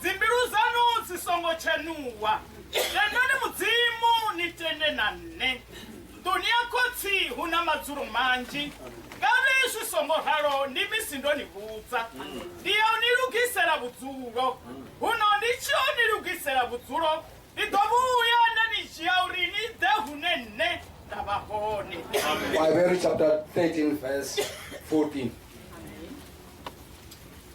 dzimbilu dzanu dzi songo tshenuwa tendani mudzimu ni tende na nṋe nḓuni ya khotsi hu na madzulo manzhi ngavhe zwi songo ralo ndi misi ndo ni vhudza ndi ya u ni lugisela vhudzulo huno ndi tshi o ni lugisela vhudzulo ndi ḓo vhuya nda ni dzhia uri ni ḓe hune nṋe nda vha hone Proverbs chapter 13, verse 14.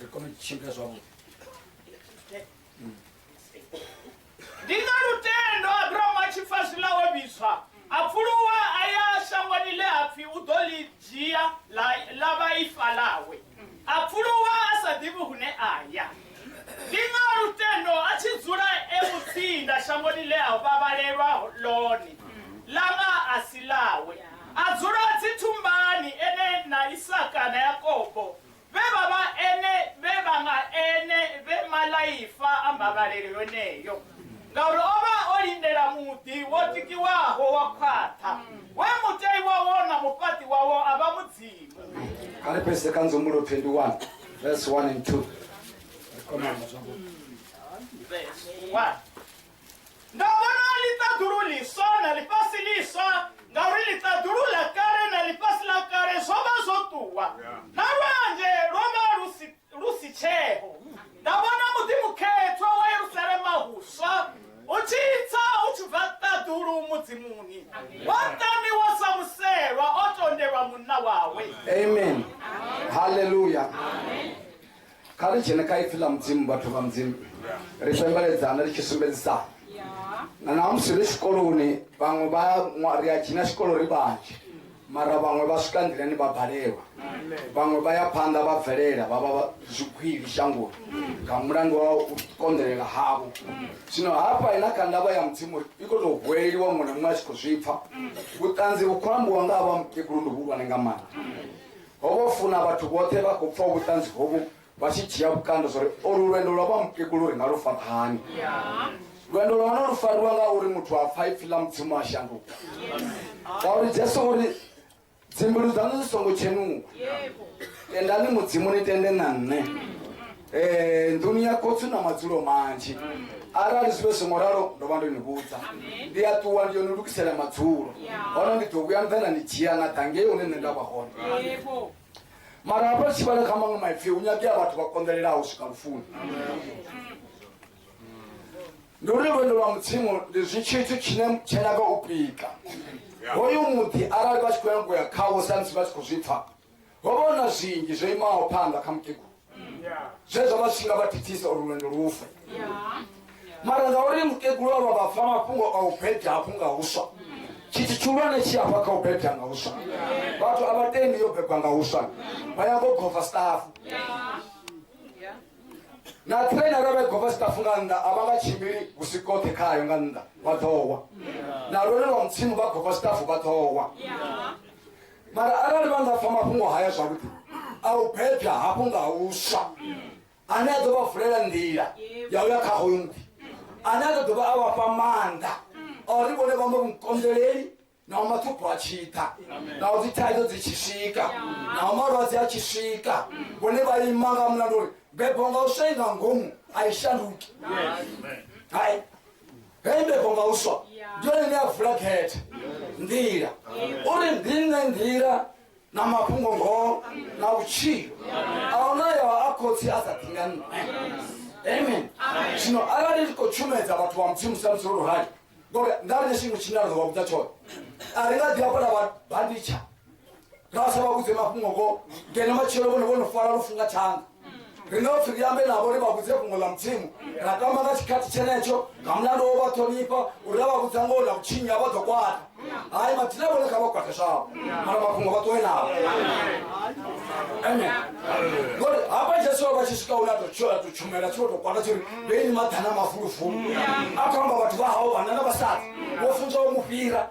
ri kone u tshimbila zwavhuḓi ndi nga lutendo abrahamu a tshi pfa zwiḽa o vhidzwa a pfuluwa a ya shangoni ḽe a pfi u ḓo ḽi dzhia ḽa vha ifa ḽawe a pfuluwa a sa ḓivhi hune a ya ndi nga lutendo a tshi dzula e mutsinda shangoni ḽe a vhavhalelwa ḽone ḽa nga a si ḽawe a dzula dzithumbani ene na isaka na yakobo vhe vha vha ene vhe vha nga ene vhe malaifa a mbavhalelo yoneyo ngauri o vha o lindela muḓi wo tikiwaho wa khwaṱha we mutei wawo na mufhaṱi wawo a vha mudzimu kha ri pese kha nzumulo 21 vese 1 and 2 Verse 1. Nga vhona ḽiṱaḓulu ḽiswa na ḽifhasi ḽiswa ngauri ḽiṱaḓulu ḽa kale na ḽifhasi ḽa kale zwo vha zwo ṱuwa na lwanzhe lwo vha lu si lu si tsheo nda vhona muḓi mukhethwa wa yerusalema huswa u tshi tsa u tshi bva ṱaḓulu mudzimuni wa tamiwa sa muselwa o tondelwa munna wawe amen haleluya Kha ri dzhene kha Ipfi ḽa Mudzimu, vhathu vha Mudzimu. Ri fhembeledzane ri tshi sumbedzisana. Na ṋamusi ri tshikoloni, vhaṅwe vha ya ri a dzhena tshikolo ri vhanzhi, mara vhaṅwe vha swika nḓilani vha balelwa. Vhaṅwe vha ya phanḓa vha bvelela vha vha zwigwili shangoni nga mulandu wa u konḓelela havho. Zwino hafha na kha ndavha ya Mudzimu i khou tou huweleliwa, muṅwe na muṅwe a tshi khou zwi pfa. Vhuṱanzi vhu khou ambiwa nga ha vha mukegulu ndi vhuhulwane nga maanḓa. Ho vha u funa vhathu vhoṱhe vha khou pfa vhuṱanzi hovhu vha tshi dzhia vhukando zwa uri olu lwendo lwa vha mukegulu ri nga lu fara hani. Lwendo lwa hone lu fariwa nga uri muthu a pfa ipfi ḽa Mudzimu a shanduka. Ngauri Jesu o ri dzimbilu dzaṋu dzi songo tshenuwa. Tendani Mudzimu ni tende na nṋe. Eh, nḓuni ya khotsi na madzulo manzhi arali zwi vhe songo ralo ndo vha ndo ni vhudza ndi a ṱuwa ndi yo ni lugisela madzulo hone ndi ḓo vhuya nda na ni dzhia na ḓa ngei hune nṋe nda vha hone mara hafha ri tshi vhala kha maṅwe maipfi hu nyagea vhathu vha konḓelelaho u swika lufuni ndi uri lwendo lwa mudzimu ndi zwi tshithu tshine tshenyaga u pika hoyu muḓi arali vha tshi khou ya ngoya khawo samusi vha tshi khou zwi pfa ho vha hu na zwinzhi zwo imaho phanḓa kha mukegulu zwe zwa vha zwi tshi nga vha thithisa uri lwendo lu fe mara ngauri mukegulu a vha vha pfa mafhungo a u bebya hafhu nga huswa tshithu tshihulwane tshi afha kha u bebya nga huswa vhathu a vha tendi yo bebwa nga huswa vha ya ngo gova stafu na train arali vha gova stafu nga nnḓa a vha nga tshimbili husi koṱhe khayo nga nnḓa vha ḓowa na lwone lwa mutsimu vha gova stafu vha ḓowa mara arali vha nga pfa mafhungo haya zwavhuḓi a u bebya hafhu nga huswa ane a ḓo vha vulela nḓila ya u ya kha hoyu muḓi ane a ḓo dovha a vha fha maanḓa a uri vhone vha mbo vhukonḓeleli naho mathupho a tshi ḓa naho dzi thaidzo dzi tshi swika naho malwadze a tshi swika vhone vha ima nga mulandu uri bebo nga u swai nga ngomu a i shanduki hai henefho nga u swa ndi yone ine ya vula khethe nḓila uri ndi nṋe nḓila na mafhungo ngoho na vhutshilo a huna yo a khotsi a sa ḓi nga nṋe amen zwino arali ri khou tshumedza vhathu vha mudzimu sa musi ro rali ngori nga ri ne tshiṅwe tshine ra ḓo vha vhudza tshone a ri nga ḓi hafhala vha banditsha ngavasa vha vhudze mafhungo vho ngeno matshelo vhone vho no fara lufu nga thanga rine upfi ri ambe navho ri vha vhudze fhungo ḽa mudzimu ra tamba nga tshikhathi tshenetsho nga mulandu wo vha ṱhonifha uri ra vha vhudza ngoho na vhutshinyi a vha ḓo kwata hai mathina vhone kha vha kwate zwavho mara mafhungo vha ṱuwe navho amen ngori hafha jesu vha tshi swika hune a to tshumela tshi vho tou kwata tshiri vheini maḓana mafulufulu a khou amba vhathu vha hao vhana na vhasadzi vho funzwa u mu fhira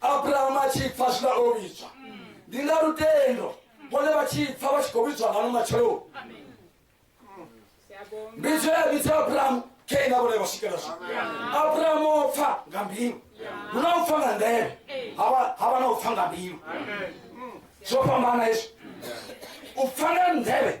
abrahamu a tshi pfa zwiḽa o vhidzwa ndi nga lutendo vhone vha tshi pfa vha tshi khou vhidzwa ngano matshelo mbidzo ya vhidza abrahamu khe na vhone vha swikela zwo abrahamu o pfa nga mbilu hu na u pfa nga ndeme ha vha na u pfa nga mbilu zwo fhambana hezwo u pfa nga ndeme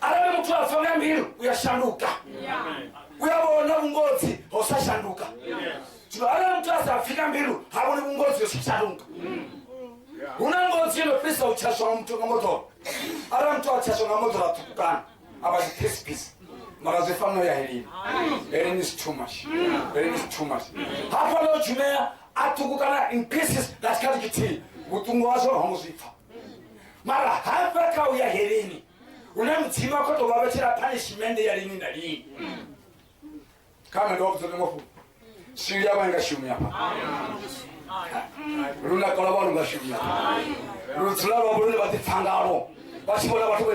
arali muthu a pfa nga mbilu u ya shanduka u ya vhona vhungodzi ho sa shanduka zwino arali muthu a sa pfi nga mbilu ha vhoni vhungodzi ho sa shanduka hu na ngozi ino fhirisa u tshaswa nga muthu nga moḓoro arali muthu a tshaswa nga moḓoro a ṱhukukana a vha dziphesipisi mara zwi fanela u ya helini helini is too much helini is too much ha fanela u tshumea a ṱhukukana in pieces nga tshikhathi tshithihi vhuṱungu hazwo ho ngo zwi pfa mara ha bva kha u ya heleni hune mudzimu a khou tou vha vhetshela punishmende ya lini na lini kha nṋe ndo vhudza uri ngofu sili ya vha nga shumi hafha luna kola vha lu nga shumi hafha lu dzula lwa vhulune vha ḓipfa ngalo vha tshi vhona vhathu vha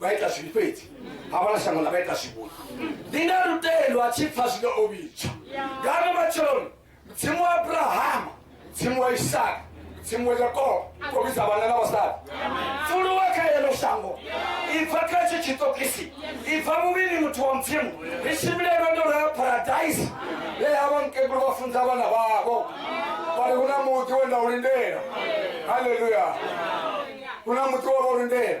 vha ita zwivhi fhedzi havhala shango ḽa vha ita zwivhuyi ndi nga lutendo a tshi pfa zwine o vhidzwa ngano matsheloni mudzimu wa abrahama mudzimu wa isaka mudzimu wa yakobo kho vhidza vhana na vhasadi pfuluwa kha yelo shango ibva kha tshi tshitokisi ibva muvhili muthu wa mudzimu ri tshimbile lwendo lwa paradise le havho mukegulu vha funza vhana vhavho vhari hu na muḓi we nda u lindela halleluya hu na muḓi wa vha u lindela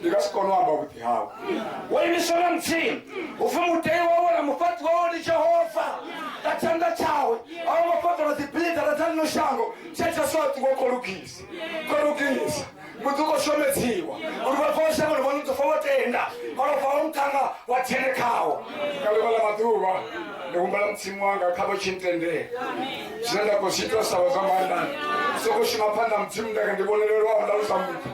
ndi nga si kone u amba vhuḓi hawe wo imiswa na mutsini upfi mutei wawe na mufhaṱi wawe ndi jehova nga tshanḓa tshawe a wo ngo fhaṱola dzibilidara dza lino shango tshetsha soṱi wo kho lugisa kho lugisa muḓi u khou shomedziwa uri vhathu vha shangoni vha nudzofa vho tenda malofha wa muṱhanga wa tshene khawo nga ḽiṅwe ḽa maḓuvha ndi humbela mutsimu wanga kha vha tshi ntendela zwine nda khou zwi ita sa vha zwa maanḓani soko shuma phanḓa mudzimu ndaka ndi vhonelelwaho nda lusa muthu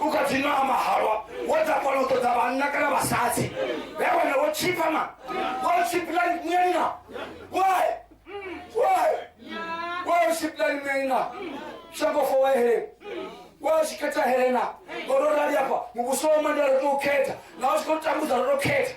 u kha dzi nwa mahalwa wo dza kona u ṱoḓa vhanna kana vhasadzi vhe wana wo tshipa ma wo tshiplani munyanina why why why u tshiplani munyanina shango fo wa helena wa tshi khetha helena ngori o rali afha muvhuso wa mandela ro tou khetha na u tshi khou tambudza ro tou khetha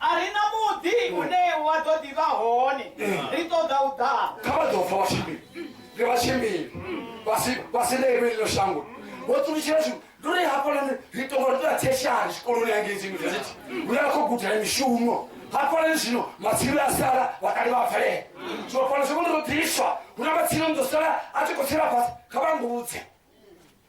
A ri na muḓi une wa ḓo ḓi vha hone, ri ṱoḓa u ḓa. Kha vha ḓo fa vha tshimbili, ri vha tshimbili, vha si vha si ḽe iwe ḽino shango. Vho ṱulutshela zwi ndi uri hafhaḽani ri tonga ri ṱoḓa theshari zwikoloni ya ngei dzi yunivesithi hune ra khou gudela mishumo hafhaḽani zwino matsilu a sala vhakale vha bvelela zwino fhano zwi vhone ro ḓiswa hu na matsilu ni ḓo sala a tshi khou tsela fhasi kha vha mbudze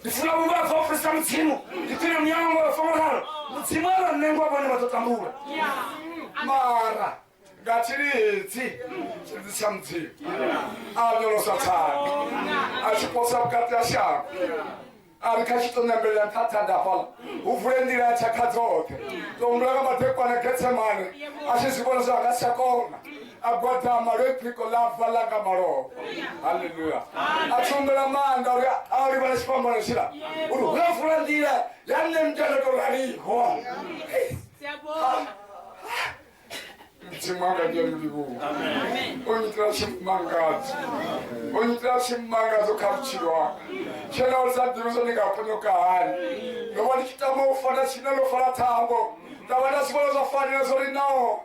ndifuna vhunga vha vhaofisa mudzimu ndi khwine muyango wa fongolalo mudzimu a vha nengwa vhone vha ḓo tambula mara nga tshilidzi tshilidzi tsha mudzimu a nyolosa tsani a tshi posa vhukati ha shango a ri kha tshi to nambelela nṱhaṱha ndafhala hu vule nḓila ya tshakha dzoṱhe tombula ka madekwana getsemane a tshi zwi vhona zwa nga si tsha kona a gwadama lwe phiko ḽa bva ḽa nga malofha halleluya a tshombela maanḓa uri a livha na tshifhambano tshila uri hu na vula nḓila ya nṋe mutana to raliho mudzimu anga ndi ya mulivhuwa o nyitela tshimangadzo o nyitela tshimangadzo kha vhutshilo wanga tshena uri sa ḓivhi zwo ndi nga ponyoka hani ndo vha ndi tshi tama u fana tshine ḽo fala thambo nda vha nda si vhona zwa fanela zwo ri naho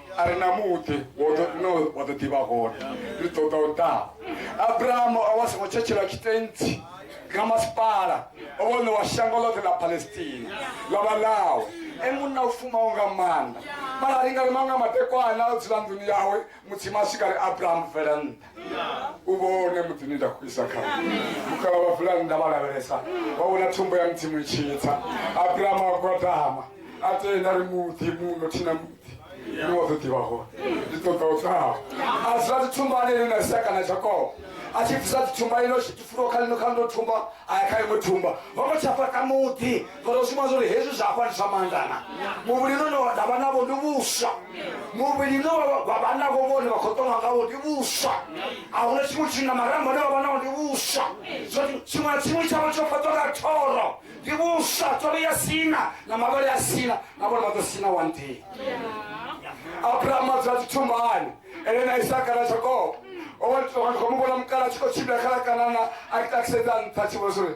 a re na muḓi no wa ḓo ḓivha hone ri ṱoḓa u ḓa abrahamu o vha songo tshetshelwa tshitentsi nga masipala o vha ṋewa shango ḽoṱhe ḽa palestina ḽa vha ḽawe e munna u fumaho nga maanḓa mara ri nga ri maṅwe a madekwana o dzula nḓuni yawe mudzimu a swika ri abrahamu bvela nṱha u vhone muḓini nda khou isa kha mukala wa vulani nda vha lavhelesa wa vhona thumbo ya mudzimu itshitsa abrahama wa gwadama a tenda ri muḓi muno thina muḓi ni wa ḓo ḓivha hone ndi ṱoḓa u ṱaho a dzula dzithumbani ino na seka na jakobo a tshi bvisa dzithumba ino tshi fulo kha lino kha ndo thumba a ya kha iṅwe thumba ho ngo tsha fhaṱa muḓi Phara u sumbedza uri hezwi zwa afha ndi zwa maanḓa na muvhili une wa davha navho ndi vhuswa muvhili une wa vha navho vhone vha khou ṱonga ngawo ndi vhuswa a huna tshiṅwe tshithu na marambo ane vha vha nawo ndi vhuswa tshiṅwe na tshiṅwe tshavho tsho fhaṱwa nga thoro ndi vhuswa tshono ya sina na mavhele a sina na vhone vha ḓo sina one day abraham a dzula tshithumbani ene na isaka na jakobo o vha ndi khou mu vhona mukala a tshi khou tshimbila kha ḽa kanana a ita kisedza nṱha tshi vhona uri